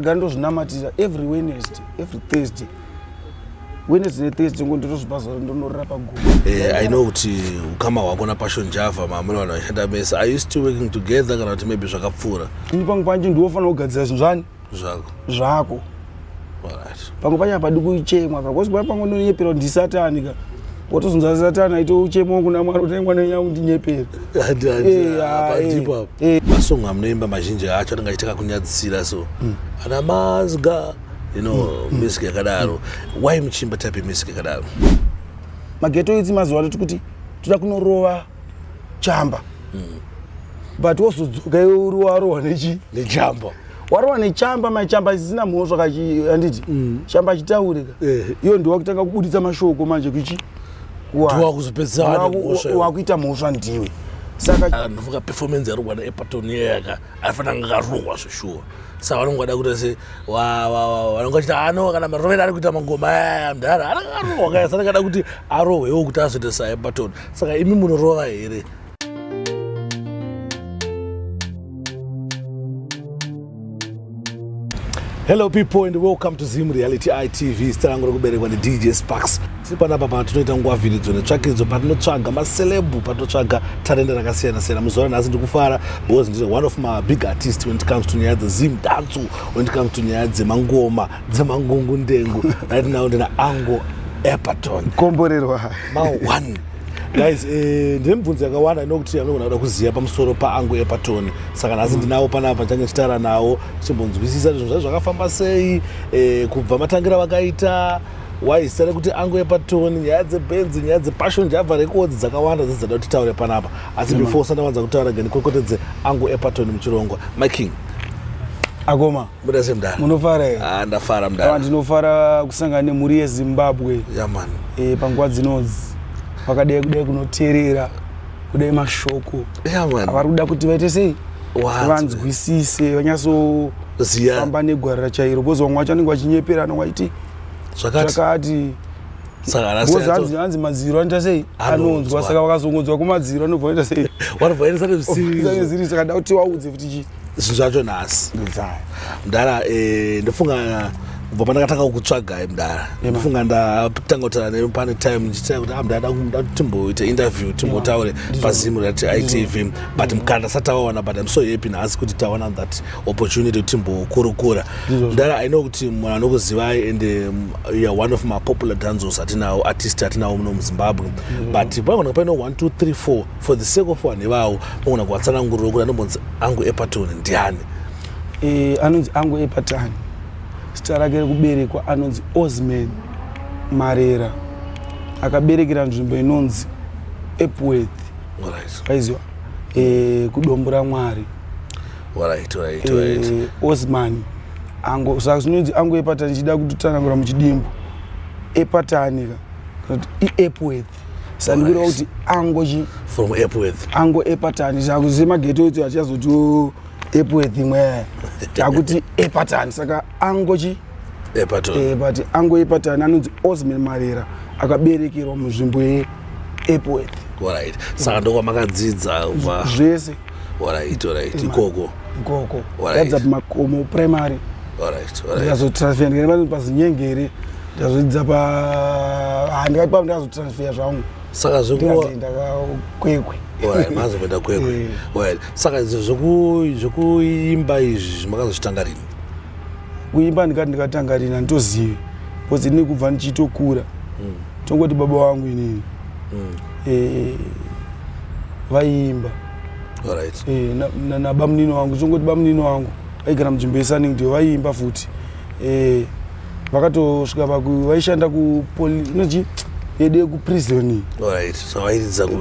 ga ndozvinamatira every wednesday every thursday wednesday nethursday ngo ndinozvipa zuva ndonorira paguva Eh, i know kuti ukama hwako napassion java maamuna vanhu vaishanda mese are you still working together kana kuti maybe zvakapfuura ini pangu panje ndiwofanira kugadzira zvinhu zvani zvako zvako alright pangu pacho hapadi kuchemwa ka kozi kuva pangu ndonyepera kuti ndisatani ka watozonza satani aite uchemo kuna mwari kuti mwana wenyu akundinyepera masong amunoimba mazhinji acho anenge achitaka kunyadzisira so hmm. ana mazga you know hmm. Hmm. music yakadaro why muchiimba type yemusic yakadaro mageto idzi mazuva ano tikuti toda kunorova chamba mm. but wozodzoka iwe uri warohwa nechi nechamba warohwa nechamba machamba isisina mhosva kaanditi mm. chamba achitaurika eh. iyo ndiwa kutanga kubuditsa mashoko manje kuchi wakuita mhosva ndiwe sakaanovuka ah, performance yarohwa neepaton yeyaka aifanira anga akarohwa zveshuwa saka vanonge vada kuita se vanonge vachita ano kana marovera ari kuita mangoma aya mdhara anangarohwa kaya sanakada kuti arohwewo kuti azoita saepaton saka imi munorova here hello people and welcome to zim reality itv zita rangu rekuberekwa nedj sparks tiri panapa pano tinoita nguva vhiridzo netsvakidzo patinotsvaga macelebhu patinotsvaga tarenda rakasiyana siyana muzuva ranhasi ndikufara because ndiri one of my big artist when it comes to nyaya dzezim danco when it comes to nyaya dzemangoma dzemangungu ndengu right now ndina ango epaton komborerwa ma one guys eh, ndine mibvunzo yakawanda inokuti anogona kuda kuziva pamusoro paangu epatoni saka nhasi mm. ndinawo panapa ndichange tichitaura nawo tichimbonzwisisa zvinhu zvacho zvakafamba sei eh, kubva matangira vakaita waizita rekuti angu epatoni nyaya dzebenzi nyaya dzepassion java rekodzi dzakawanda dzidzada kuti titaure panapa asi before usana wanza kutaura gani kwekotedze angu epatoni muchirongwa my king akoma Muda sei mdara? Munofara here? Ah, ndafara mdara. Awa ndinofara kusangana nemhuri yeZimbabwe. Yeah man. Eh, panguva dzinodzi vakadai kudai kunoteerera kudai mashoko. Yeah man. Avari kuda kuti vaite sei? Vanzwisise, vanyaso ziya famba negwara rachairo because vamwe vacho vanenge vachinyeperana vachiti zvakati hanzi madziro anoita sei anonzwa saka vakazongonzwa kumadziro anobva anoita sei ziri saka da kuti waudze kuti chii zvinhu zvacho nhasi mdara eh, ndofunga kubva pandakatanga kukutsvagai mdara ndofunga ndatanga kutaura nemi pane time ndichitira kuti amdada ah, timboita interview timbotaure pazimu rat itv mm. but mkana ndasati tawaona but im so happy nhasi kuti tawana that opportunity kuti timbokurukura mdara i know kuti munhu anokuzivai and um, youare one of mapopular danzos atinawo artist atinawo muno muzimbabwe but paona paino 1 2 3 4 for the sake of vanhu ivavo mogona kuvatsananguriro kuti anombonzi angu epatoni ndiani e, anonzi angu epatani zita rake rekuberekwa anonzi osman marera akaberekera nzvimbo inonzi epworth aiziwa e, eh, kudombo ramwari right, right, right. e, osman ango saka zvinonzi angu epatani chida kutotsanangura muchidimbo epatani ka kana kuti iepworth sandikiro kuti angochi from epworth ango epatani chakuziva mageto etu achazoti epworth imwe takuti epatani saka angochi epatoni eh, but ango epatani anonzi osman marera akaberekerwa munzvimbo yeepworth right saka ndokwamakadzidzazvese Alright, alright. Ema- Ikoko. ikoko Alright. ndadzidza pamakomo primary Alright, alright. ndikazotransfer ndikaenda pazinyengeri ndikazodzidza pa ah, ndikati pano ndikazotransfer zvangu Saka zvekuwa ndikazoenda kakwekwe Alright, mazopinda kwekwe. Eh. Alright. Saka izvo zveku zvekuimba izvi makazozvitanga rini? kuimba ndikati ndikatanga rina nditozivi bcause ini kubva ndichitokura tongoti baba wangu inini mm. eh, vaiimba right. eh, nabamunini na, na wangu tongoti bamunini wangu vaigara munzvimbo yesunningdale vaiimba futi eh, vakatosvika paku vaishanda kupolinochi yede kuprisoni right. so,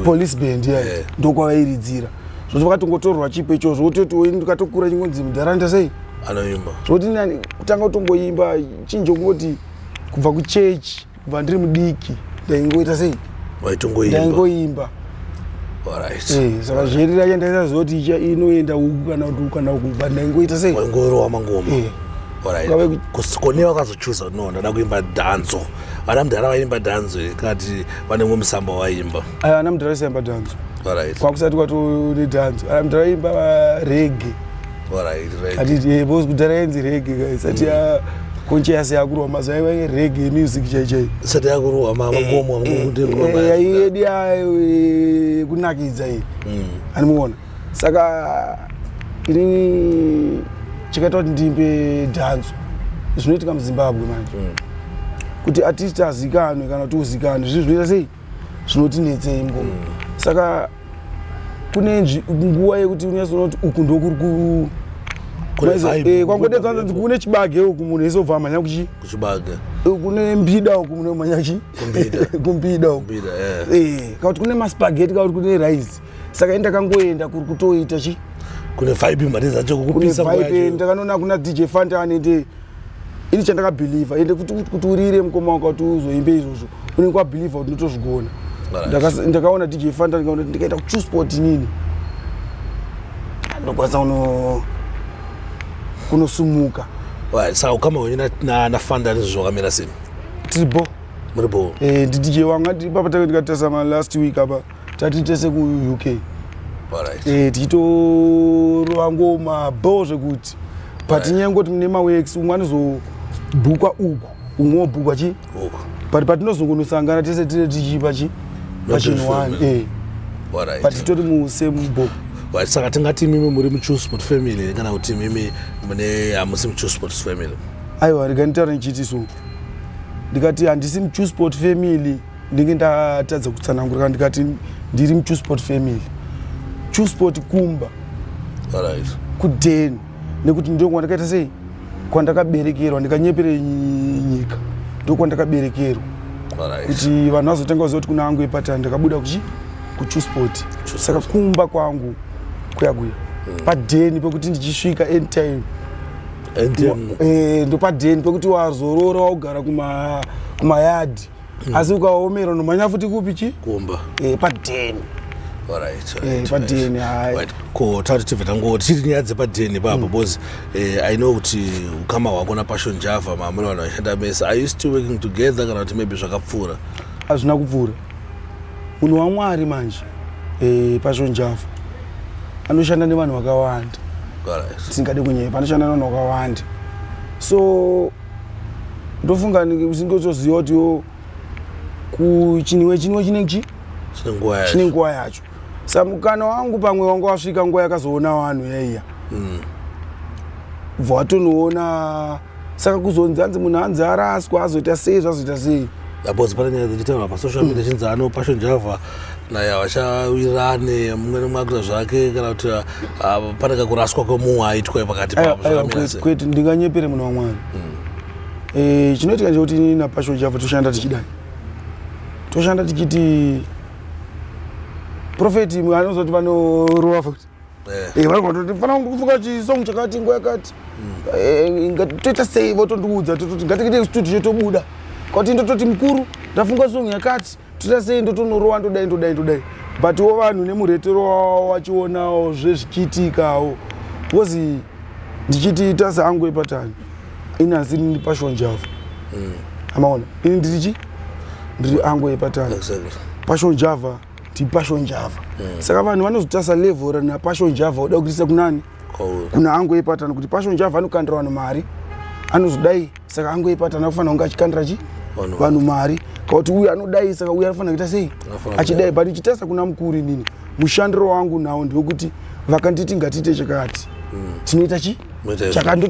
police band yeah. yeah. ndokwavairidzira zvoti vakatongotorwa chipo icho zvoti oti oini ndikatokura chingonzi mudharanda sei anoimba zvoti nani kutanga kutongoimba chinjo kungoti kubva kuchechi kubva ndiri mudiki ndaingoita sei waitongoimba ndaingoimba Alright. Eh, saka zheri racho ndaisaziva kuti icha- inoenda uku kana kuti uku kana uku but ndaingoita sei waingorowa mangoma Eh. Alright. Kwave ku- Kus- kone wakazochuza kuti no ndada kuimba dhanzo vana mudhara vaimba dhanzo here kana kuti vane mumwe musamba waimba aya ana mudhara siyamba dhanzo Alright. kwakusati kwatone dhanzo ana mudhara imba rege kudhara yenzi rege guys ati mm. conscious yakurwa mazuva yaiva yerege yemusic chaichai sati yakurwa makomo yaiyedi yekunakidza iyi andimuona saka ini chakaita kuti ndimbe dhanzo zvinoitika muzimbabwe manje mm. kuti atisti azikanwe kana kuti uzikanwe zvinhu zvinoita sei zvinotinetsei ngo mm. saka kune nguva yekuti unyazonoti uku ndokuri ku eh, kwangodedzanzi kune chibage uku munhu ese ubva amhanya kuchi kuchibage eh, kune mbida uku munhu amhanya kuchi kumbida uku eh. kakuti kune maspageti kakuti kune rice saka ini ndakangoenda kuri kutoita chi kune vibe mari dzacho kukupisa kune vibe ndakanoona kuna dj fanta anende ini chandakabhilivha ende kuti kuti urire mukoma wako kuti uzoimbe izvozvo unenge wabhilivha kuti ndotozvigona ndakaona dj fanta ndikaona kuti ndikaita kuchu sport nini ndokwanisa kuno kunosumuka saka ukama wenyu nafanda nezvo zvakamira sei tiri bo muri bo eh, dj wanga ndipapa take ndikatarisa ma last week apa tati tese kuuk eh, tichitorova ngoma bo zvekuti but nyaya yekungoti mune mawex umwe anozobhukwa uku umwe wobhukwa chi but patinozongonosangana tese tine tichipa chi pachin one eh. but titori musame bo right saka tingati imimi muri mutrue sport family kana kuti imimi mune hamusi mutrue sport family aiwa rega nditaura ndichiti so ndikati handisi mutrue sport family ndinge ndatadza kutsanangura kana ndikati ndiri muchusport family chusport kumba kudeni nekuti ndokwandakaita sei kwandakaberekerwa ndikanyepere nyika ndokwandakaberekerwa kuti vanhu vazotanga kuziva kuti kuna angu epatani ndakabuda kuchi kuchusport saka kumba kwangu kuya kuya hmm. padeni pekuti ndichisvika anytime eh, ndopadeni pekuti wazorora waugara kumayadhi mm. asi ukaomera unomhanya futi kupi chi kumba eh, padeni eh, padeni hai ko tati tibve tangoti chiri nyaya dzepadeni ipapo mm. because eh, i know kuti ukama hwako napassion java maamuna vanhu vaishanda mese are you still working together kana kuti maybe zvakapfuura hazvina kupfuura munhu wamwari manje eh, passion java anoshanda nevanhu vakawanda tisingade kunyepa anoshanda nevanhu vakawanda so ndofunga usingozoziva kuti yo kuchinwe chinwe chine chi chine nguva yacho sa mukana wangu pamwe wanga wasvika nguva yakazoona vanhu yaiya mm. bva watonoona saka kuzonzi hanzi munhu hanzi araswa azoita sei zvazoita sei because pane nyaya dzichitaurwa pasocial media chinzi ano passion java naye havachawirirane mumwe nemwe akuita zvake kana kuti ah, pane kakuraswa kwemunhu aitwa pakati Aiwa, pavo aiwa, zvakamira kwete, sei? kwete ndinganyepere muna wamwari Eh, chinoitika ndechekuti ini napasho java toshanda tichidai toshanda tichiti profeti anozoti vanorowa futi Eh. Eh, vanhu vatoti fana kufunga chisong chakati nguva yakati eh, toita sei votondiudza tototi ngatiite studio tobuda kwati ndototi mukuru ndafunga song yakati toita sei ndotonorowa ndodai ndodai ndodai but wo vanhu nemuretero wavo vachionawo zvezvichiitikawo bcause ndichiti tasa angu epatani ini asi ndini pashonjavo hmm. amaona ini ndiri chi ndiri angu epatani pashonjava exactly. tipasho njava mm. saka vanhu vanozotarisa level rana pasho njava oda kuitisa kunani kuna hangu yepatana kuti pasho njava anokandira vanhu mari anozodai saka hangu yepatana kufanira kunge achikandira chi vanhu mari kauti uyu anodai saka uyu anofanira kuita sei achidai but ichitarisa kuna mukuru inini mushandiro wangu nawo ndewekuti vakanditi ngatiite chakati mm. tinoita chi chakati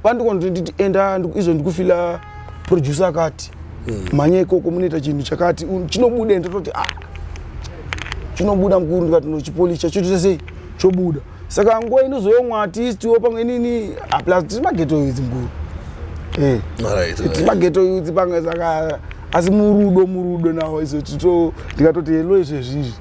vandikonotonditi enda izvo ndikufila producer akati hmm. mhanya ikoko munoita chinhu chakati chinobuda ende toti ah chinobuda mukuru ndikati nochipolisha chotoita sei chobuda saka nguva inozouya umwe atistiwo pamwe inini ah, plus tiri mageto yudzi mukuru eh. tiri mageto yudzi pamwe saka asi murudo murudo nawo izo tito ndikatoti helo izvezvizvi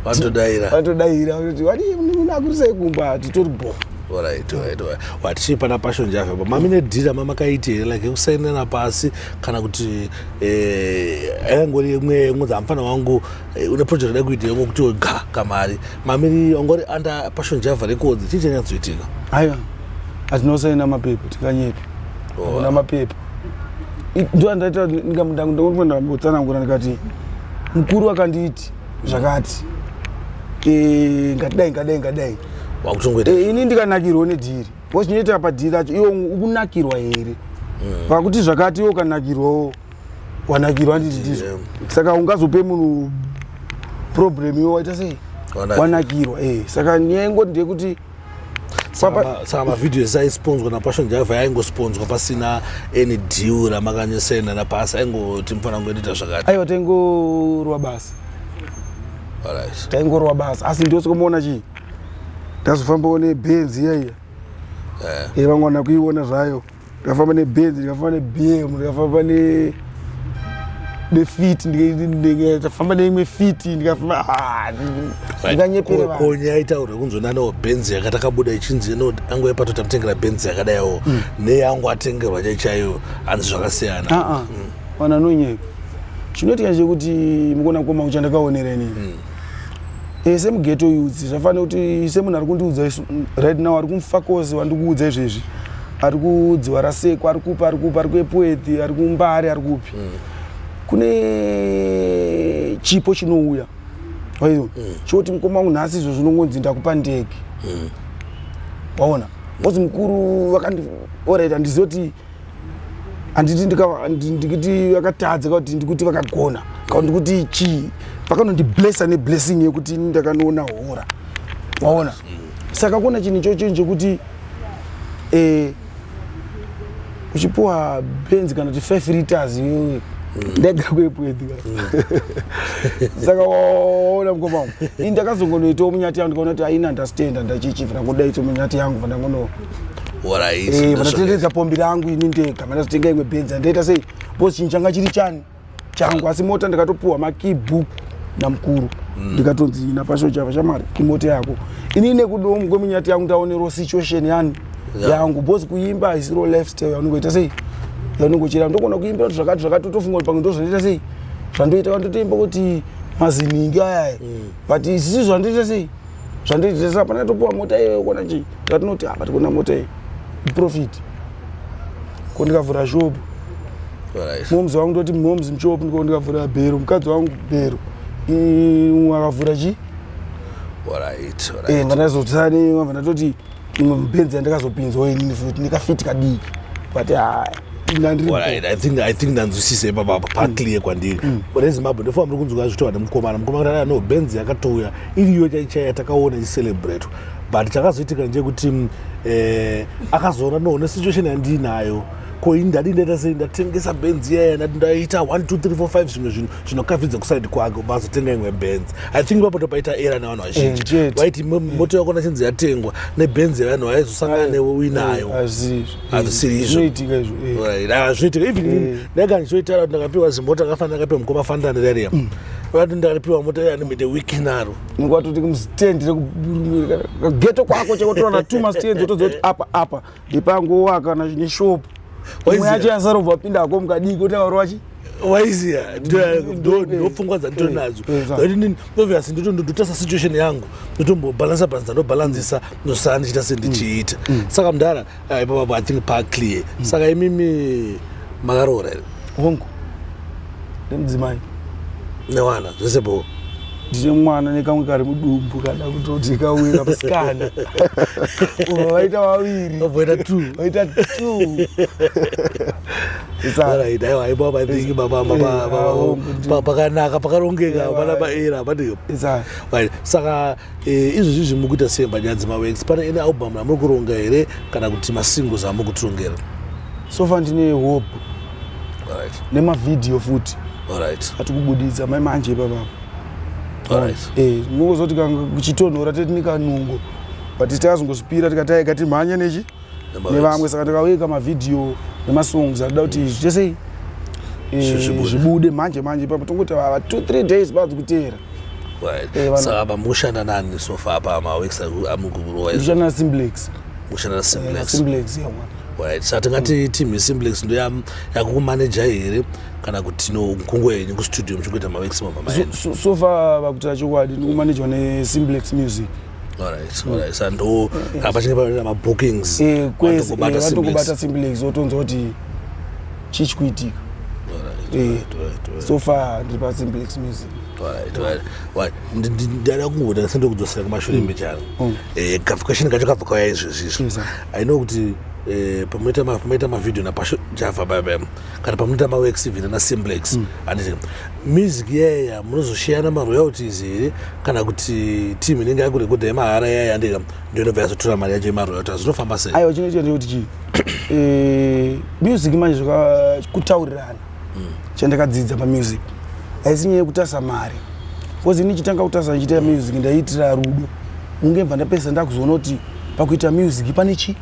vatodaira vatodaira kuti wadii munin'ina akurisai kumba titori bho Alright, alright, alright. watichii pana passion java pa mami nedhira mamakaiti here like yekusainirana pasi kana kuti eh, yangori yemwe yemwe dzamufana wangu eh, une project da kuita yemwe kuti ga kamari mamiri ongori under passion java records chii chanyatsoitika aiwa atinosaina mapepa tikanyepa Oh. hakuna mapepa I- ndo andaita ndikambotsanangura ndikati mukuru akanditi zvakati eh, ngatidai ngadai ngadai wakutongoita eh, ini ndikanakirwa nedhiri wachinoita padhiri acho iwo ukunakirwa here pakuti mm. zvakati iwo ukanakirwawo wanakirwa handiti ndizvo yeah. saka ungazope munhu problem iwo waita sei wanakirwa eh, saka nyaya ingoti ndeyekuti saka mavhidhiyo ese aisponzwa napassion java yaingosponswa pasina any deal ramakanyesena napasi aingoti mufana ngoendita zvakati aiwa taingorwa basa taingorwa basa asi ndosikomuona chii ndazofambawo nebenzi iyaiya eh. eh, vamwana kuiona zvayo ndikafamba nebenzi ndikafamba nebm ndikafamba ne nefit ndikafamba neimwe fit ndikafamba ah, ndikanyepere vanhu konye aitaura kunzwa nanawo benzi yakatakabuda ichinzi ino angu yepato tamutengera benzi yakadaiwo Mm. neyangu atengerwa chaichaiyo hanzi zvakasiyana Ah, ah. Mm. vanhu anonyepa chinoitika chekuti mukona koma uchandakaonera inini e, semugeto youth zvafanira kuti semunhu ari kundiudza right now ari kumufakozi wandikuudza izvezvi ari kudziwa rasekwa ari kupa ari kupa ari kuepuethi ari kumbari ari kupi mm. kune chipo chinouya aiwa mm. choti mukoma wangu nhasi izvo zvinongonzi ndakupa ndege mm. waona bcause mukuru vakandioreta ndizoti handiti ndikiti vakatadza ka kuti ndikuti vakagona ka ndikuti chii vakanondiblessa neblessing yekuti ini ndakanoona hora waona saka kona chinhu ichocho chekuti eh, uchipiwa benzi kana kuti five liters iwewe ndega kwepwedhi saka waona mukoma wangu ini ndakazongonoitawo munyati yangu ndikaona kuti aina understand andachichifira ngodaito munyati yangu vandangono Eh, vanotenderedza pombi rangu ini ndega vanozotenga imwe benza ndaita sei bcause chinhu changa chiri chani changu asi mota ndikatopuhwa makeybook namukuru mm. ndikatonzi mm. napasho chava chamari imota yako ini nekudomu kwemunyati yangu ndaonero situation yani yeah. yangu bcause kuimba haisiro lifestyle yaunongoita sei yaunongochera ndokona kuimbira kuti zvakati zvakati totofunga kuti pamwe ndozvanoita sei zvandoita vandotoimba kuti maziningi ayaya mm. but isisi zvandoita sei zvandiitisa hapana yatopiwa mota iyoyo kona chii zvatinoti hapa ah, tikona mota iyi iprofit ko ndikavhura shopu moms wangu ndoti moms mshopu ndiko ndikavhura bhero mukadzi wangu bhero akavhura chii eh, ndandazotani vabva ndatoti imwe mubenzi yandakazopinzwa inini futi nekafiti kadiki but haya ithink ndanzwisisa ipapa paclear kwandiri mm. rezimbabwe ndofa muri kunzwa zvitova nemukomana mukomana kana no benz yakatouya iriyo chaichaya takaona icelebrate but chakazoitika ndechekuti mm, eh, akazoona no nesituation yandiinayo ko ini ndadii ndaita sei ndatengesa benzi yaya ndati ndaita 1 2 3 4 5 zvimwe zvinhu zvinokavidza kuside kwake ubva azotenga imwe benz i think papoto paita era nevanhu vazhinji eh, waiti moto yako nachinzi yatengwa nebenz yevanhu vaizosangana eh, newe uinayo eh, hazvisiri izvozvinoitika even ndaika ndichoitaura kuti ndakapiwa zimota akafanira akapiwa mukoma fandani rariya mm. vati ndaripiwa mota yanemite wiki naro ngatoti mstendi rekugeto kwako chekotorana two mastendi otoziva kuti apa apa ndipanguwa kana neshop imwe yacho yasarobva apinda hako mukadii kuti avari wachi waiziya ndopfungwa dzandito nadzo obvious ndototasisa situation yangu ndotombobalansa balansa ndobalanzisa ndosara ndichiita sendichiita mm. mm. saka mudhara ah, ipapapo i think pa clear mm. saka imimi makaroora here hongu nemudzimai newana zvese boo ndine mwana nekamwe kari mudumbu kana kutoti kauye kamusikana uva vaita vaviri vaita t vaita t pakanaka pakarongeka vana vaera hapadiyo saka eh, izvozvi zvimuri kuita sei mbanyadzi mawex pane ine album amuri kuronga here kana kuti masingles amuri kutirongera sofa ndine hope Alright. nemavhidhiyo futi Alright. atikubuditsa mai manje ipapapa Alright. Eh, mungozoti kanga kuchitonhora teti nikanungo but tazongozvipira tikataika timhanye nechi Nema nevamwe hits. saka ndikaweka mavhidhiyo nemasongs atida kuti zvese eh, Zvi- zvibude. zvibude manje manje ipapo tongoti vava two three days badzi kuteera Right. Eh, vana- Saka apa mushanda nani so far apa maweeks amukukurova izvo. ndishana simplex ushanda nasimblex Simblex yeah, mwana. right saka tingati team yesimblex ndo ya- yakukumaneja here kana kuti no nkungo yenyu kustudio muchikuita mavexima mama So- enu so- so far vakutaura chokwadi ndikumanejwa nesimblex music alright alright saka ndo kana pachinge paita mabookings Eh, kwese eh, vanotokubata vatokubata Simplex. simblex wotonzwa kuti chii chikuitika Alright, Eh, alright, alright, alright. so far ndiri pasimblex music ndada kungoda sende kudzosera kumashure mm. mbecharo mm. eh, kafukashini kacho kabva kauya izvezvi izvo mm, aino kuti eh, pamoita mavhidhio napasho java baba kana pamoita mawex vina nasimblex anditi music yaya munozoshiyana maroyalties here kana kuti team inenge yakurekodha yemahara yaya andika ndiyonobva yazotora mari yacho yemaroyalties zvinofamba sei aiwa chinoita ndekuti chii eh, music manje zvakakutaurirana chandakadzidza pamusic haisi nyaya yekutasa mari bcause ini chitanga kutasa ndichiita music ndaiitira rudo unge bva ndapesa ndakuzoona kuti pakuita music pane chii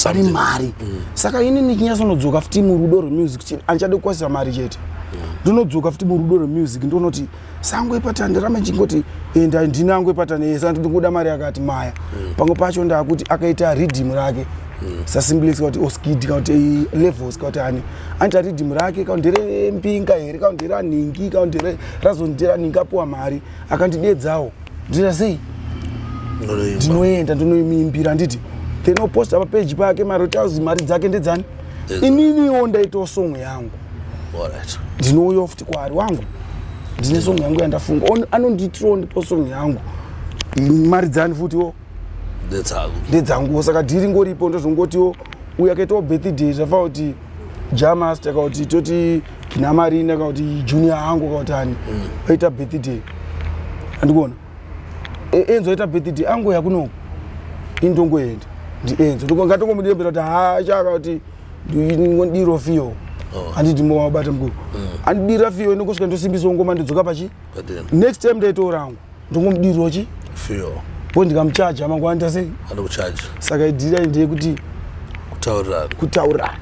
pane mari mm. saka ini ndichinyatsonodzoka futi murudo rwemusic chete andichade kukwasisa mari chete mm. ndinodzoka futi murudo rwemusic ndionoti sango ipatani ndaramba ndichingoti enda eh, ndinango ipatani yesa eh, ndiri kuda mari yakati maya mm. pamwe pacho ndakuti akaita ridhimu rake mm. sasimbulix kuti oskidi oh, kuti levels kuti ani anoita ridhimu rake ka ndere mbinga here ka ndere anhingi ka ndere razondere anhingi apuwa mari akandidedzawo ndinoita sei ndinoenda ndinoimimbira handiti then oposta papeji pake marotazi mari dzake ndedzani ininiwo ndaitawo song yangu ndinouyawo futi kwaari wangu ndine song yangu yandafunga anondiitirawo ndipo song yangu mari dzani futiwo ndedzanguwo saka dhiri ngoripo ndozongotiwo uyo akaitawo birthday zvafa kuti jamas takauti toti namarina kauti junior hangu kauti ani vaita mm. birthday andikuona e, enzo ita birthday ango yakuno indongoenda ndi enzo ngatongomudiembera kuti haachaka kuti ndiro fiyo oh. handidi mo wabata mukuru mm. andidira fiyo inokosvika ndosimbisa ngoma ndidzoka pachi next time ndaitora angu ndongomudirwa chi fiyo po ndikamuchaja mangwana ndasei anokuchaja saka idira ndeye kuti kutaurana kutaurana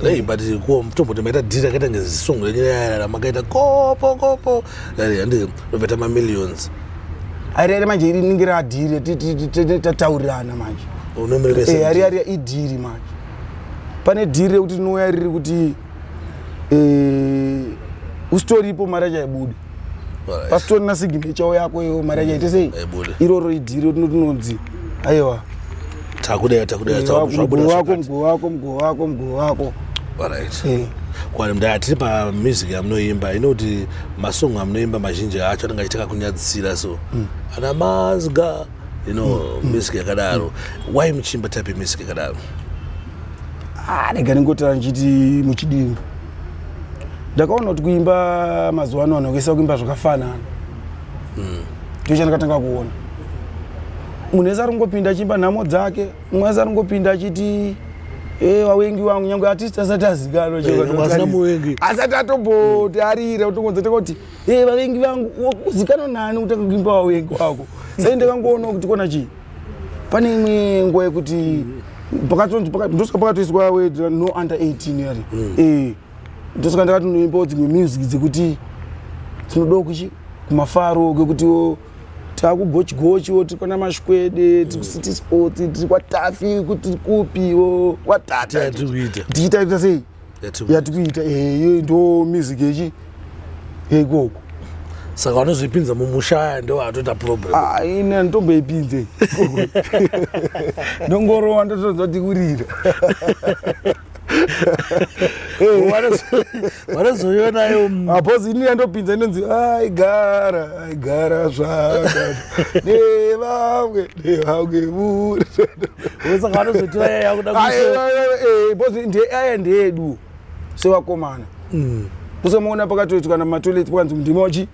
Hey, but kuwa mtombo tamaita dhiri akaita ngezisongo renyu makaita kopo kopo Ndoveta ma millions. Airere manje iri ningi ra deal tataurirana manje. Unomirira eh, SMG. Airere i deal manje. Pane deal rekuti tinouya riri kuti eh usitoripo mara chaibuda. Pasitori na signature yako iyo mara chaite sei? Iroro i deal tinonzi. Aiwa. Takudera takudera zvabuda wako mguu wako mguu wako mguu wako. Alright. Eh. Kwani mdaya tiri pa music yamunoimba inoti masong amunoimba mazhinji acho anenge achitaka kunyadzisira so. Mm. Ana mazga you know mm. mm. music yakadaro. Mm. Why muchimba type music yakadaro? Ah, ndega ndingotara ndichiti muchidimbu. Ndakaona kuti kuimba mazuva ano vanhu kuisa kuimba zvakafanana. mm. ndicho chandakatanga kuona munhu wese aringopinda achiimba nhamo dzake mumwe wese aringopinda achiti e wawengi wangu nyange artist asati azikanwa eh, asati atomboti arire otongonza taka kuti e eh, vavengi vangu uzikanwa nani kutanga kuimba wawengi wako sai ndakangoona kuti kona chii pane imwe nguva yekuti ndosaka pakatoiswa no under 18 yari mm. e eh. ndosaka ndakatonoimbawo dzimwe music dzekuti tinodawo kuchi kumafaro kwekutiwo takugochigochiwo tiri kwana mashikwede tiri kucity sports tiri kwatafi tiri kupiwo kwatata tichitaita sei yatikuita eyo ndo music yechi yeikoko saka vanozvipinza mumusha aya ndo atoita problem ah, ini anditomboipinze ndongorowa ndotonzwa tikurira vanozoionayo apos ini yandopinza inonzi aigara aigara zvaka nevamwe nevamwe vusaka vanozotiwa yaya yakuda bos ndeaya ndeedu sevakomana kusamuona pakatoitikana mumatoilet pakanzi ndimochi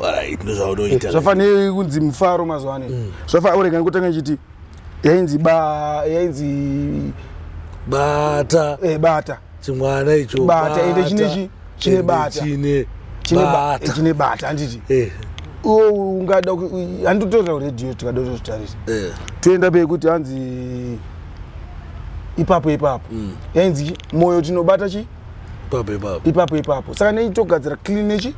Alright, ndozvaunoita. Zvafanei kunzi mufaro mazuva ano. Mm. Zvafanei urega kutanga chiti yainzi ba yainzi bata. Eh bata. Chimwana icho. Bata ende chine chi chine bata. Chine chine bata. Chine bata anditi. Eh. Oh, ungada anditora radio tikada kutarisa. Eh. Toenda pe kuti hanzi ipapo ipapo. Mm. Yainzi moyo tinobata chi? ipapo ipapo ipapo ipapo saka nei togadzira clean nechi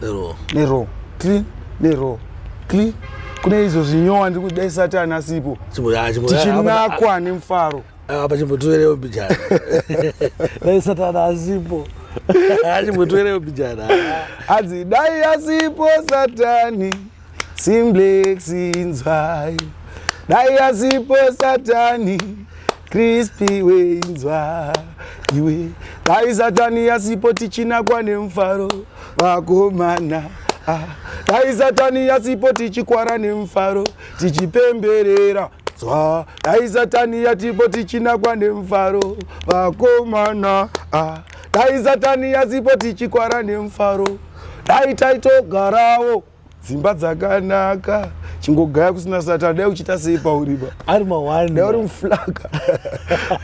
nero nero clean nero clean kune izvo zvinyowa ndiri kudai satani asipo chimbo ya chimbo ya- tichinakwa nemufaro apa- apa chimbo tuerewo bijana dai satani asipo chimbo tuerewo bijana hanzi dai asipo satani Simplex inzwai dai asipo satani Crispy we inzwa iwe dai satani asipo tichina kwane mfaro vakomana ah. dai satani asipo tichikwara nemfaro tichipemberera zwa dai satani yatipo tichinakwa nemufaro vakomana ah. dai satani yasipo tichikwara nemufaro dai taitogarawo dzimba dzakanaka chingogaya kusina satani dai uchiita sei pauriba ari mawani dai uri muflaka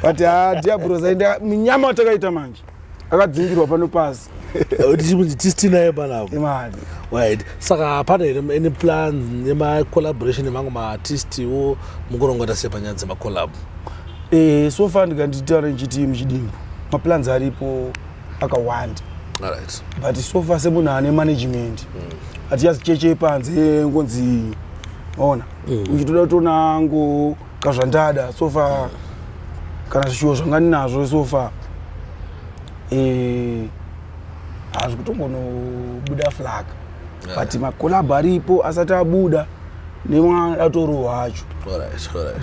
but ah, diabros aenda minyama watakaita manje akadzingirwa pano pasi tisitinaye panapo imali right saka hapana here any plan nemacollaboration emamwe maartistiwo mukurongota sei panyaya dzemacollab eh, so far ndikanditaura ndichiti muchidimbu maplans aripo akawanda right. but so far semunhu ane management mm. hatiyazicheche panze ngonzi ona mm. uchitoda kutoona ngo kazvandada so far yeah. kana zvishuwo zvanga ndinazvo so far eh, hazvi kutongonobuda flag yeah. but makolabho aripo asati abuda nemwana atorohwa acho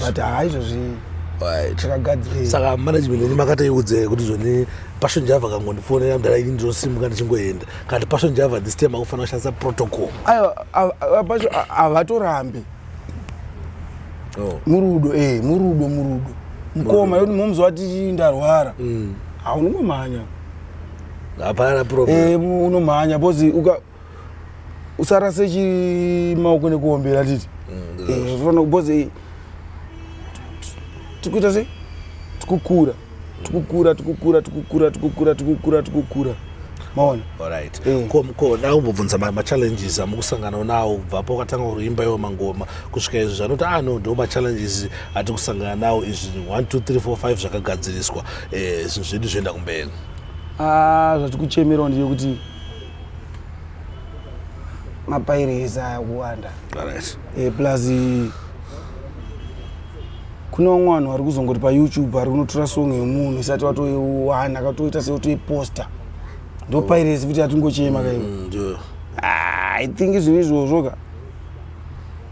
but haizvozvii saka management ini makataiudze kuti zvoni passion java kangondifonera mdara ini ndinosimuka ndichingoenda kati passion java this time akufanira kushandisa protocol aiwa havatorambi oh. murudo eh murudo murudo mukoma yoti momzi wati ndarwara mm. haunongomhanya hapana problem eh unomhanya because uka usarase chi maoko nekuombera titi mm, eh, because eh, tikuita sei tikukura tikukura tikukura tikukura tikukura tikukura tikukura maona orit eh. ko da kumbobvunza machallenges amukusangana nawo kubvapo ukatanga kuimba iwo mangoma kusvika izvi zvanoti ah no ndo machallenges ati kusangana nawo izvi 1 2 3 4 5 zvakagadziriswa eh, zvinhu zvedu zvoenda kumberi ah, zvati kuchemerawo ndiyo kuti mapairezi aya kuwanda eh, plus kune vamwe vanhu vari kuzongoti payoutube vari kunotora song yemunhu isati watoiwana akatoita seotoiposta ndopairesi futi yatingochema kaiwe mm, ah, i think zvinhu izvozvo ka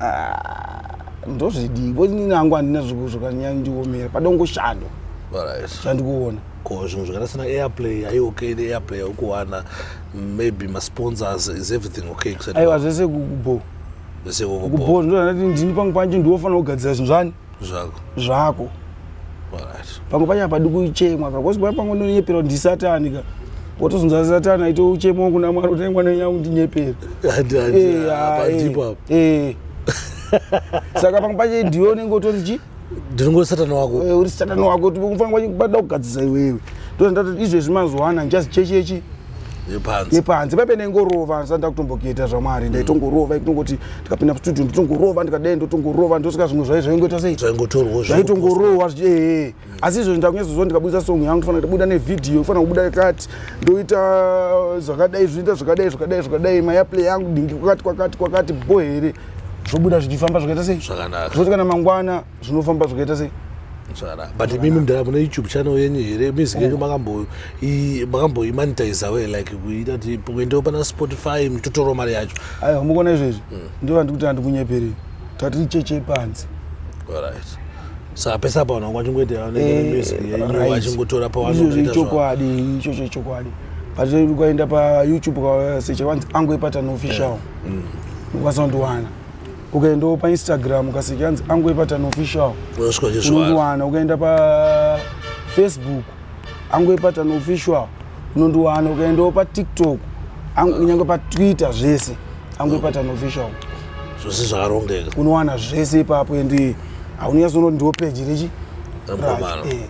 ah, ndozvidii bcause nini angu handina zvokanyanya ndiomera pada kungoshandwa chandikuona ko zvinhu zvakaita sena airplay ai okay neairplay aukuwana maybe masponsors is everything okay aiwa zvese kubo vese voko Uku bhoo ndinoti ndini pangu panje ndiwofanira kugadzira zvinhu zvani zvako zvako Alright. pamwe pacho hapadi kuchemwa ka kosi paya pamwe ndonyepera kuti ndisatani ka wotozonza satani aite uchemo wangu namwari kuti "Dai mwana wenyu akundinyepera Handi- handi- Eh, ah, hapadipo eh, apo. eh. saka pamwe pacho ndiwe unenge utori chi ndinongori satani wako eh, uri satani wako unofanira kubada kugadzisa iwewe ndozandatoti izvezvi mazuva ana just chechechi nepanze paipe ndaingorova ndisati ndakutombokuita zvamwari ndaitongorova ikutongoti ndikapinda mustudio nditongorova ndikadai ndotongorova ndosvika zvimwe zvai zvaingoita sei zvaitongorohwa ee asi izvozvi ndakunyatsoziva ndikabudisa song yangu ndofana kubuda nevhidhiyo ndofana kubuda kati ndoita zvakadai zvoita zvakadai zvakadai zvakadai mayaplay yangu dingi kwakati kwakati kwakati bo here zvobuda zvichifamba zvakaita sei Zvakanaka. zvoti kana mangwana zvinofamba zvakaita sei Zvakanaka. but imimi mdara mune youtube channel yenyu here music yenyu makambo- i- makamboimanitizawo here like kuita kuti kuendewo pana spotify muchitotorawo mari yacho aiwa mukuona izvezvi ndivo vandikuti handikunyeperei tati icheche panzi Alright. saka pese apa vanhu vangu vachingoita music yenyu vachingotora izvozvo ichokwadi ichocho ichokwadi but kwaenda payoutube ukasecha kwanzi angoepatano official mm. ukazondiwana ukaendawo painstagram ukaseki anzi angu epatani official unondiwana ukaenda pafacebook angu epatani official unondiwana ukaendawo patiktok kunyange patwitter zvese angu epatani official zvose zvakarongeka unowana zvese ipapo endi haunyasono ndiwo peji rechi eh.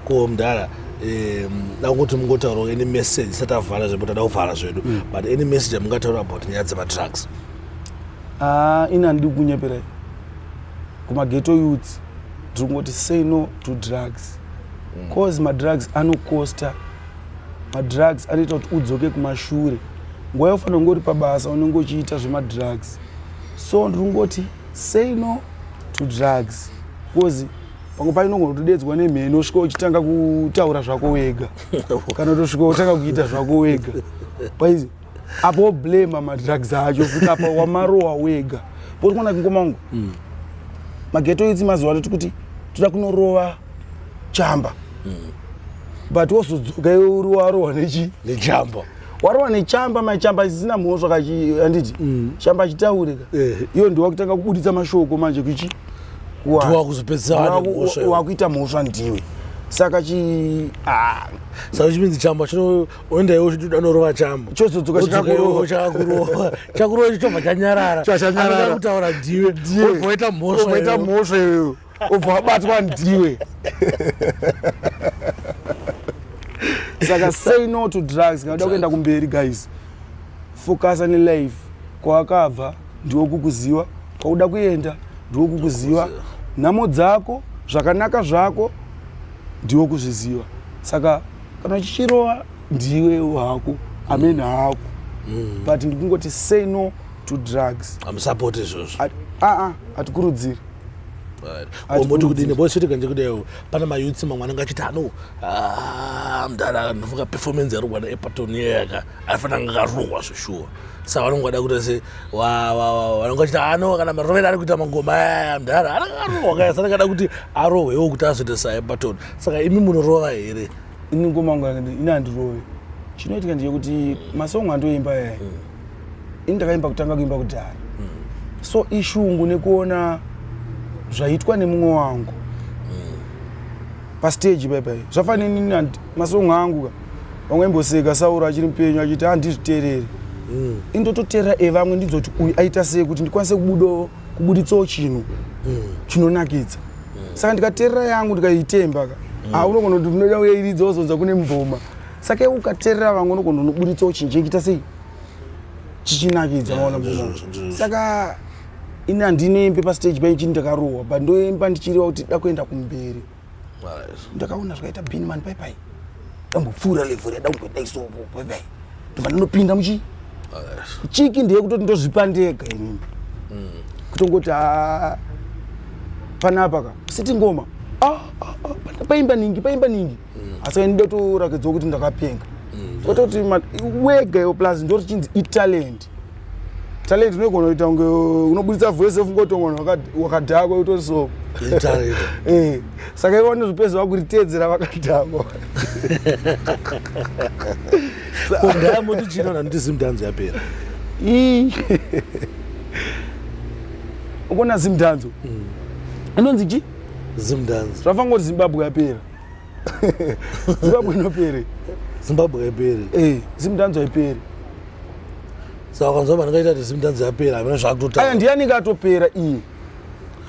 ko mdara da kuti mungotaurawo any message isati avhara zvedu tada kuvhara zvedu mm. but any message amungataura about nyaya dzematrucks ah, ini handidi kunyeperai kumageto youths tiri kungoti say no to drugs mm. cause madrugs anocosta madrugs anoita kuti udzoke kumashure nguva yofanira kunge uri pabasa unenge uchiita zvemadrugs so ndiri kungoti say no to drugs bcause pamwe pacho unogona kutodedzwa nemheni osvika uchitanga kutaura zvako wega kana utosvika utanga kuita zvako wega paizi apo woblema madrugs acho futi apa wamarowa wega poti kwana kingomangu mm. mageto itsi mazuva toti kuti toda kunorova chamba mm. but wozodzoka iwe uri warowa nechi nejamba warowa nechamba mai chamba isisina mhosva kaanditi mm. chamba achitaure ka eh. iyo ndiwa kutanga kubuditsa mashoko manje kuchi wakuita mhosva ndiwe saka chi ah. saka chipinzi chamba chinoendawo chianorova chamba chozodzoka chakurova chakurova icho chobva chanyarara kutaura ndiwe oita mhosva obva wabatwa ndiwe saka say no to drugs kana uda kuenda kumberi guys focus on life kwawakabva ndiwo kukuziwa kwauda kuenda ndiwo kukuziwa nhamo dzako zvakanaka zvako ndiwo kuzviziva saka kana chichirova ndiwe wako amene hako mm. but ndikungoti say no to drugs hamusapoti izvozvo aa ah, ah, hatikurudziri moti kudini bo chete kanje kudaio pane mayutsi mamwe anenge achiti ano ah, mdara ndofunga performance yarogwa neepaton yeyaka aifana anga akarohwa zveshuwa sa vanonge vada kuita se vanonge vachiti ano ah, kana marovera ari kuita mangoma aya mdara ananga akarohwa kaya sanenge ada kuti arohwewo kuti azoita saepaton saka imi munorova here ini ngoma yangu yakati ini handirove chinoitika ndechekuti masong andoimba yaya mm. ini ndakaimba kutanga kuimba kudhara mm. so ishungu nekuona zvaitwa nemumwe wangu mm. pasteji paipai zvafanira inini masong angu ka vamwe imboseka sauro achiri mupenyu achiti handizvitereri mm. indototerera evamwe ndidzoti uyu aita sei kuti ndikwanise kubudawo kubuditsawo chinhu chinonakidza saka ndikaterera yangu ndikaitemba ka haa unogona kuti unoda uyairidza wozonza kune mboma saka iwe ukaterera vamwe unogona unoburitsawo chinhu chinoita sei chichinakidza maona ndizvo, mboma ndizvo. saka ini handinoembe pastage paini chini ndakarohwa but ndoemba ndichireva kuti da kuenda kumberi ndakaona zvakaita bini mani pai pai dambopfuura level yada kungodaisoko pai pai ndobva ndinopinda muchi chiki ndiye kutoti ndozvipa ndega inini mm. kutongoti a panapa ka siti ngoma ah, ah, ah, paimba ningi paimba ningi mm. asi kaini ndotorakidzwa kuti ndakapenga mm, kototi wega yo plus ndorichinzi italent talent unoigona kuita kunge unobuditsa voice off ngotonga vanhu wakadhakwa utori so eh, saka ivo vanozopedza vakuriteedzera vakadhakwa kondamoti chino naniti zimdanzo yapera ukona zimdanzo mm. inonzi chi zimdanzo zvafangoti zimbabwe yapera zimbabwe inopere zimbabwe haiperi eh, zimdanzo haiperi saka ukanzwa vanhu kaita kuti zimdanzo yapera amene zvakutotaa aya ndiye anenge atopera iye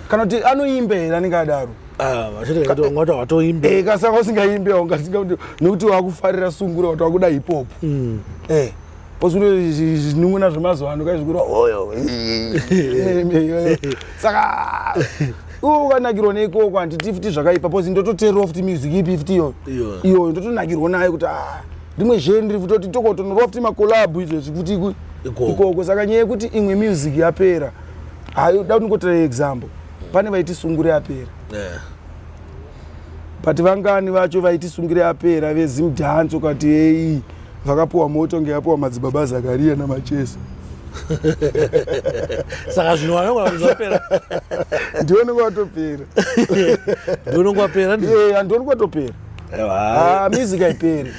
kana kuti anoimba here anenge adaro ah, vachitikatingati watoimba eh, kasaka usingaimbi aungasinga kuti nekuti wakufarira sungura kuti wakuda hipopu mm. eh. ozvino zvinun'una zvemazuva ano kai zvikurwa oyo saka iwo ukanakirwa neikoko handiti futi zvakaipa bcause ndototeerwa futi music ipi futi iyoyo iyoyo ndotonakirwa nayo kuti ah, rimwe zhee ndiri futi oti tokotonorwa futi makolabhu izvezvi kuti ikoko saka nyaya yekuti imwe music yapera hayo da kuti ndingotera example pane vaitisungure yapera yeah. but vangani vacho vaitisungire apera vezimdance ukati hei vakapiwa moto nge apiwa madzibaba zakariya namachesa saka zvino wanaapera ndionenge watopera ndionenge wapera andioni kwatopera ah, music haiperi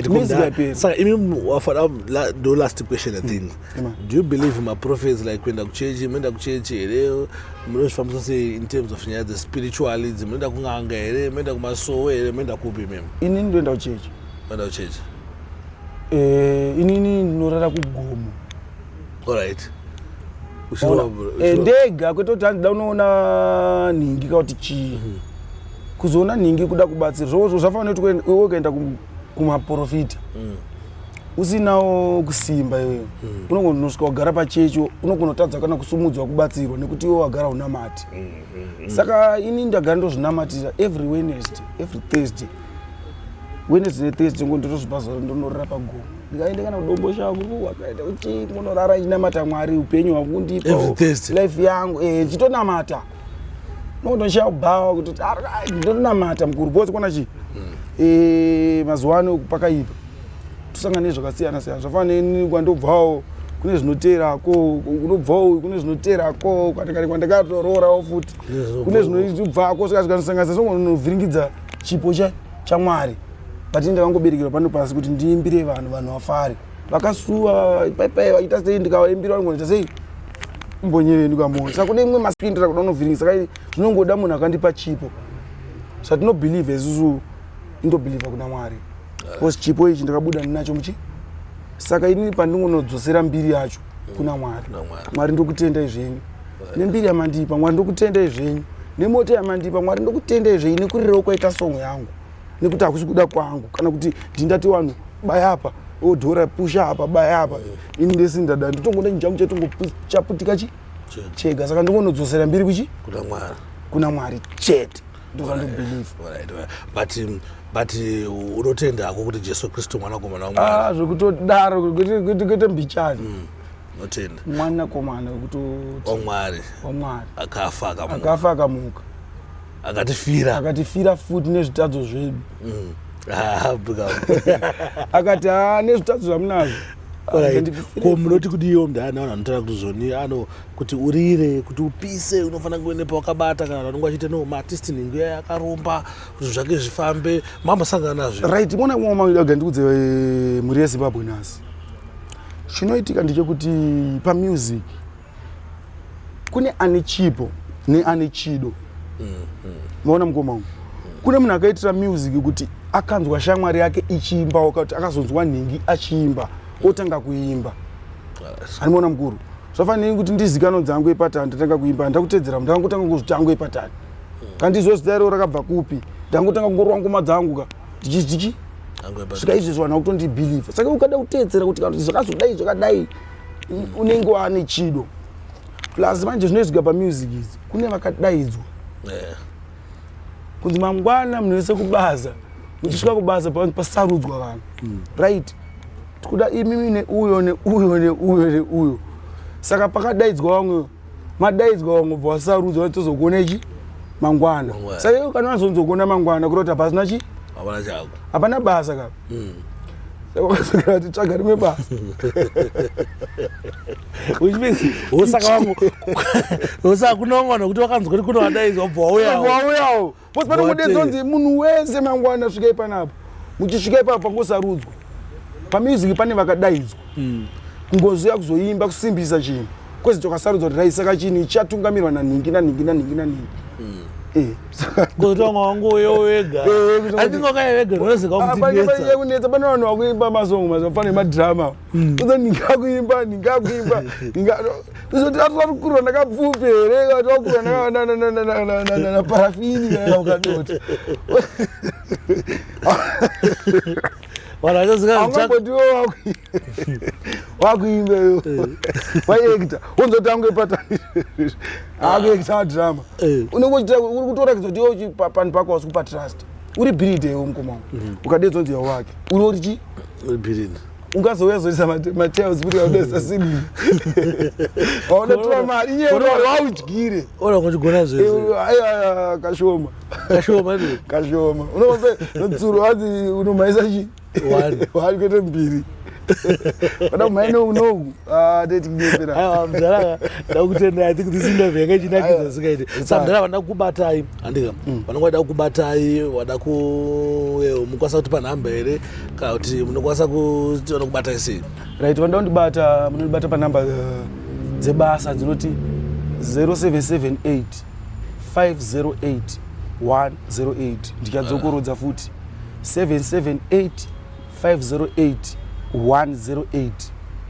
music haiperi saka imi wafana ndo last question i think do you believe maprophets like kuenda kuchechi munoenda kuchechi here munozvifambisa sei in terms of nyaya dzespiritual idzi munoenda kun'anga here munoenda kumasowe here munoenda kupi mem inini ndoenda kuchechi oenda kuchechi eh, inini ndinorara kugomo allright eh, ndega kwete kuti handida unoona nhingi ka kuti chii mhm. kuzoona nhingi kuda kubatsira zvozvo zvafanira kuti iwe ukaenda kumaprofita mm. usinawo kusimba iwewe mm. unogonosvika wagara pachecho unogonotadza kana kusumudzwa kubatsirwa nekuti iwe wagara unamati mm, mm, mm. saka ini ndagara ndozvinamatira every wednesday every thursday wednesday nethursday ngo ndotozvipa zora ndonorira pagomo ndikaende kana kudombo shangu wakaita kuti ngonorara ndinamata mwari upenyu hwangu ndipo life yangu eh, ndichitonamata eh, nokutoshaya kubhawa kuti ndonamata mukuru bhozi kona chii hmm. eh, mazuva ano pakaipa tosangana nezvakasiyana siyana zvafana neni kwandobvawo kune zvinoteera ko unobvawo kune zvinoteera ko kwatikati kwandakatoroorawo futi kune zvinobva ko sikazikandisanganisa sonovhiringidza chipo chamwari but ndakangoberekerwa pano pasi kuti ndiimbire vanhu vanhu vafare vakasuwa paipai vaita sei ndikavaimbira vanongoita sei mbonyere ndikamoyo saka kune imwe maskini tata kuda unovhiringa saka zvinongoda munhu akandipa chipo zvatinobhilivha isusu indobhilivha kuna mwari bcause chipo ichi ndakabuda ndinacho muchi saka inini pandingonodzosera mbiri yacho kuna mwari mwari ndokutendai zvenyu nembiri yamandipa mwari ndokutendai zvenyu nemoto yamandipa mwari ndokutendai zvenyu nekurirawo kwaita songo yangu nekuti hakusi kuda kwangu kana kuti ndindati wanhu baya apa odhora oh, pusha apa baya apa ini ndese ndada nditongoda chinjangu chatongochaputika chi chega saka ndongonodzosera mbiri kuchi kuna mwari kuna mwari chete but um, but uh, unotenda hako kuti jesu kristu mwanakomana wamwari ah, zvekutodaro kuita mbichani mm notenda mwanakomana wekuti wamwari wamwari akafa akamuka akafa akamuka akatifira akatifira futi nezvitadzo zvedu mm. ah, akati haa ah, nezvitadzo zvamunazvo ko munoti kuti iyo mdana vanhu vanotora kuti zvoni ano kuti urire kuti upise unofanira kuve nepawakabata kana vanonge vachiita no maartist nhingo iya yakaromba kuti zvake zvifambe mambosangana nazvo right mona kumwe maga ndikudze eh, mhuri yezimbabwe nhasi chinoitika ndechekuti pamusic kune ane chipo neane chido maona mukoma wangu kune munhu akaitira music kuti akanzwa shamwari yake ichiimba wakati akazonzwa nhingi achiimba otanga kuimba andimaona mukuru zvafaniri kuti ndizikanwa dzangu epatani ndatanga kuimba handida kutedzera ndanga kutanga kuzviti angu epatani kana ndiziva zita ireo rakabva kupi ndanga kutanga kungorwa ngoma dzangu ka ndichizichi Angu epatani. svika izvezvo vanhu vakutondibhilivha saka ukada kuteedzera kuti kana kuti zvakazodai zvakadai unenge waane chido plus manje zvinoizwika pamusic izi kune vakadaidzwa eh. kunzi mangwana munhu wese kubaza muchisvika kubaza pasarudzwa vanhu hmm. right tikuda imimi neuyo neuyo neuyo neuyo saka pakadaidzwa vamwe madaidzwa vamwe bva vasarudzwa vatozokuona ichi mangwana saka iwe kana unazonzokuona mangwana kurota pasina chi hapana basa kapa mm. vakasokera kuti tsvaga rimwe basa which means hosaka wangu hosaka kunongona kuti wakanzwa kuti kunowadaidzwa bva wauyawo wauyawo bcause panongodedza kunzi munhu wese mangwana svika ipanapo muchisvika ipapo pangosarudzwa pamusic pane vakadaidzwa mm. ngozi yakuzoimba kusimbisa chinhu kwese tokasarudzwa kuti raisaka chinhu ichatungamirwa nanhingi nanhingi nanhingi nanhingi hmm. eh, kutonga wangu uyo wega eh, andingokaye vega rinoziva kutikunetsa pane vanhu vakuimba masongo mazuva fana emadrama hmm. uza ndingakuimba ndingakuimba tizoti atatakurwa ndakapfupi here tatakurwa naparafini kana ukadoti vanhu vachazivaangambotiwo wakuimba iyo waiekta wonzotange patakuekta drama unenge uri kutorakidza kuti iwe panhu pako wasi kupa trust uri biride iwe mukoma wangu mm. ukadedza unzi yawo wake uri uri chii biride ungazouya zoisa matails kuti audesa sini aonotora mari nyewaaudyire ona kuchigona zvese kashoma kashoma ne kashoma unope nodzuro wazi unomhaisa chi wani kwete mbiri oda kumhai noku noku ah, ndetinyepera aiwa mdhara ndakutenda i think this interview yanga ichinakidza zikaite sa mdhara vanoda kukubatai handika mm. vanonga vada kukubatai vada ku eh, mukwasa kuti panhamba here kana kuti munokwasa kutiona kubatai sei right vanoda kundibata munondibata panhamba eh, dzebasa dzinoti 0778 508 108 ndichadzokorodza futi 778 508 108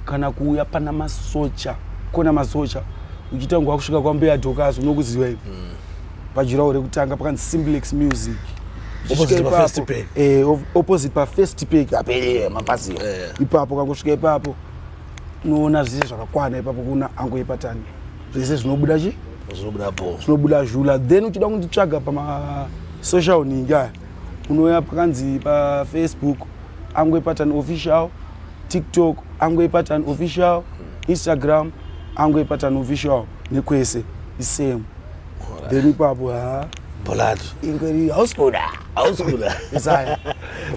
kana kuuya pana masocha kona masocha uchitangwa kusvika kwambuya dhokazi unokuziva ivi mm. pajurawo rekutanga pakanzi simplex music opposite pafirst pack eh, opposite pafirst pack apere mapazi eh. ipapo kangosvika ipapo unoona zvese zvakakwana ipapo kuna angu epatani zvese zvinobuda chi zvinobuda bho zvinobuda zhula then uchida kunditsvaga pamasocial ninga unouya pakanzi pafacebook angwe patan official tiktok angwe patan official instagram angwe patan official nekwese isame then ipapo ha bholatu ingweri hausibuda hausibuda isaya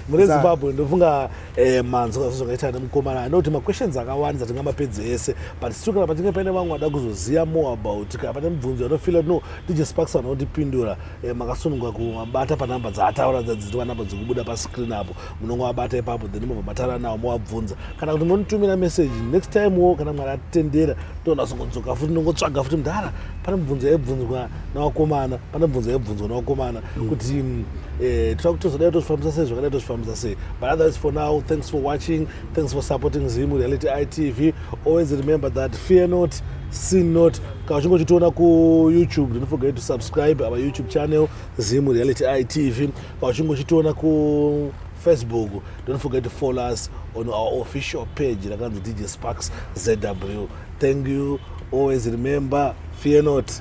mune zimbabwe ndofunga Eh, manzwa zvazvakaita nemukomana i know kuti maquestions akawandisa tingamapedze ese but still kana pachinge paine vamwe vada kuzoziva more about kana pane mubvunzo anofila no dj sparks vana kutipindura eh, makasununga kumabata panumber dzaataura dzadzitwa number dzekubuda pascreen apo munonge wabata ipapo then mobva matara nawo mowabvunza kana kuti monitumira message next time wo kana mwari atitendera tonasongodzoka futi nongotsvaga futi mudhara pane mubvunzo yaibvunzwa nawakomana pane mubvunzo yaibvunzwa nawakomana kuti mm, eh, tira kuti tozodai tozvifambisa sei zvakadai tozvifambisa sei but otherwise for now thanks for watching thanks for supporting zim reality itv always remember that fear not sin not kana uchinge uchitiona kuyoutube don't forget to subscribe our youtube channel zim reality itv kana uchinge uchitiona ku facebook don't forget to follow us on our official page rakanzi dj sparks zw thank you always remember fear not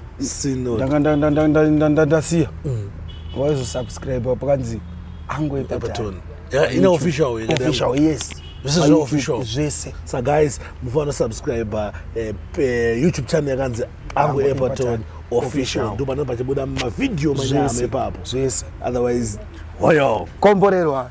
ndasiya waizosubscribe pakanzi angoepaton ine official official yes zvese zveofficial zvese sa guys mufanira subscribe eh, eh, youtube channel yakanzi angu epaton official ndo panenge pachibuda mavideo manyama ipapo zvese otherwise hoyo komborerwa